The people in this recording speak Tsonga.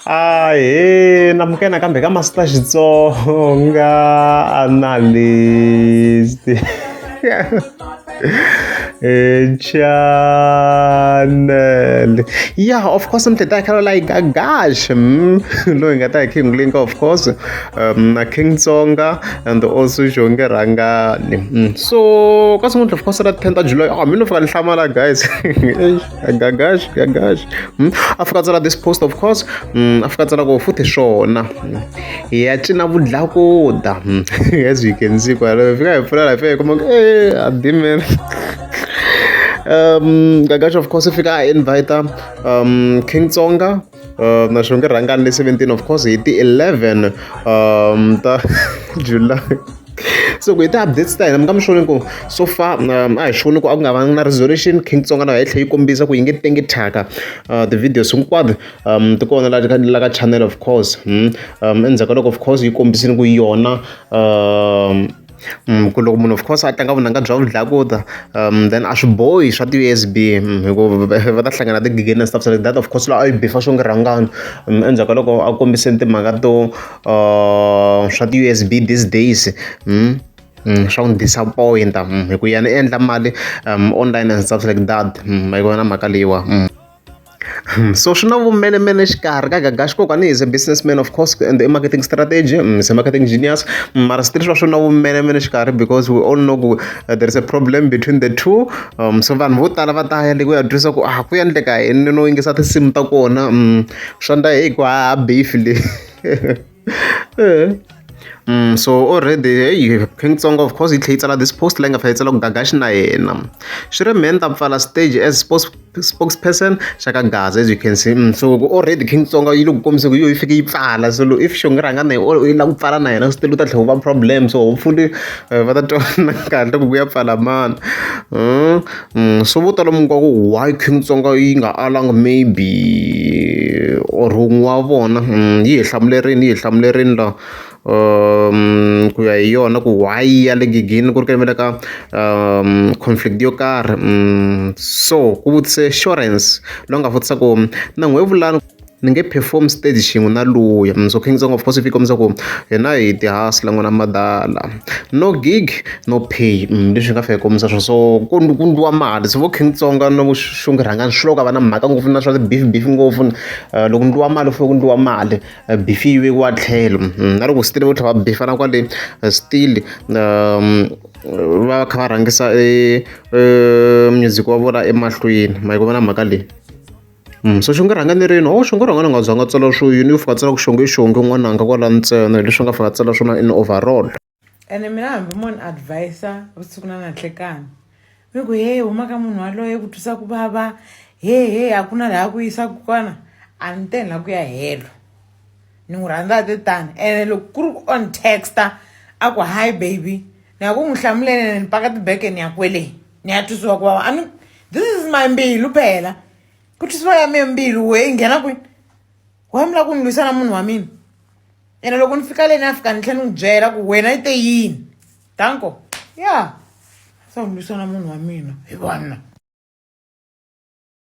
ahee namuke nakambe ka masita xitsonga analyst channel ya of course mhleta yakhe like agash mm, loyi nga ta hi king link of course um, na king tsonga and also jonge rangani mm. so ka sungula of course ra 10 ta july oh, mi no fika ni hlamala guys gagash gagash Mm, a fika a tsala this post of course Mm, a fika a tsala ko futhi swona Mm, hi ya cina vudlakuda Mm, as you can see kwala hi fika hi pfula la fika hi kuma ku, eh admin um gagash of course i fika a invita um king tsonga Uh, na xo nge rhangani le 17 of course hi ti-11 um ta july so ku hi ti-updates ta hina mi nga mi xoni ku so far um, a hi xoni ku a ku nga vangi na resolution king tsonga na henhla yi kombisa ku yi nge tengi thyaka uh, ti-videos hinkwato um ti kona la ka channel of course hmm? um endzhaku ka loko of course yi kombisini ku yona um ku loko munhu of course a tlanga vunanga bya vudlakuta then a swi bohi swa ti V_S_B hikuva va ta hlangana na ti-ghegeneni na stuff like that of course loko a yi bifa swo nge rhangani endzhaku ka loko a kombise timhaka to swa ti-V_S_B these days swa n'wi disappoint-a hi ku yena i endla mali online and stuff like that a yi kona mhaka leyiwani. so swi na vumenemene exikarhi ka Gagashi kokwani is a business man of course and i marketing strategy mm, is a marketing genius mm, mara switirhi swa swi na vumenemene exikarhi because we all know ku uh, there is a problem between the two um, so vanhu vo tala va ta ya le ku ya twisa ku ah ku endleka yini no yingisa tinsimu ta kona mm, swa ndla hi ku ha beef leyi Um so already heyi Khensongo of course yi tlhela yi tsala this post leyi nga fanele yi tsala ku Gagashi na yena swi ri mehe ni ta pfala stage as sports spokesperson xa ka Gaza as you can see so already Khensongo yi le ku kombisa ku yo yi fike yi pfala so if xo ngi rhanga na yi yi lava ku pfala na yena swi tiva u ta tlhela u va problem so hopefully va ta twanana kahle ku ku ya pfala mani . So vo tala mi nga ku why King Tsonga yi nga alanga maybe or wun'we wa vona yi hi hlamulerini yi hi hlamulerini la ku ya hi yona ku why yi ya le nghegeni ku ri ku yimela ka conflict yo karhi so ku vutise xurhense loyi a nga vutisa ku na n'wehe vulani. Ni nge perform stage xin'we na luya mundzuku i ntsongo of course swi ti kombisa ku hina hi ti hasla n'wana madala no gig no pay leswi hi nga fane hi kombisa swona so ku ku ndliwa mali se vo King Tsonga na vo Shunge Rhangani swi vula ku a va na mhaka ngopfu na swa ti beef beef ngopfu loko ku ndliwa mali ku fanele ku ndliwa mali beef yi vekiwa tlhelo na loko still vo tlhela va beef-ana kwale still va kha va rhangisa e music wa vona emahlweni ma yi ku vona mhaka leyi. So xi nga rhanga ni rini or xi nga rhanga ni nga zanga tsala swo yini u fika a tsala ku xonge i xonge n'wananga kwala ntsena hi leswi a nga fika a tsala swona in overall ene mina hambi mo ni advisa vusiku na nanhlekani ni ku he huma ka munhu waloye ku twisa ku vava he he a ku na laha ku yisaka kona a ni teni laha ku ya helo ni n'wi rhandza a te tani ene loko ku ri ku on texta a ku hi baby ni ya ku n'wi hlamulele ni paka tibeke ni ya kwele ni ya twisiwa ku vava i mean this is my mbilu phela ku twisiwa ya mina mbilu we yi nghena kwini wa mi lava ku ni lwisana munhu wa mina ene loko ni fika le ni ya fika ni tlhela ni n'wi byela ku wena yi te yini danko ya se ni lwisana munhu wa mina hi vanna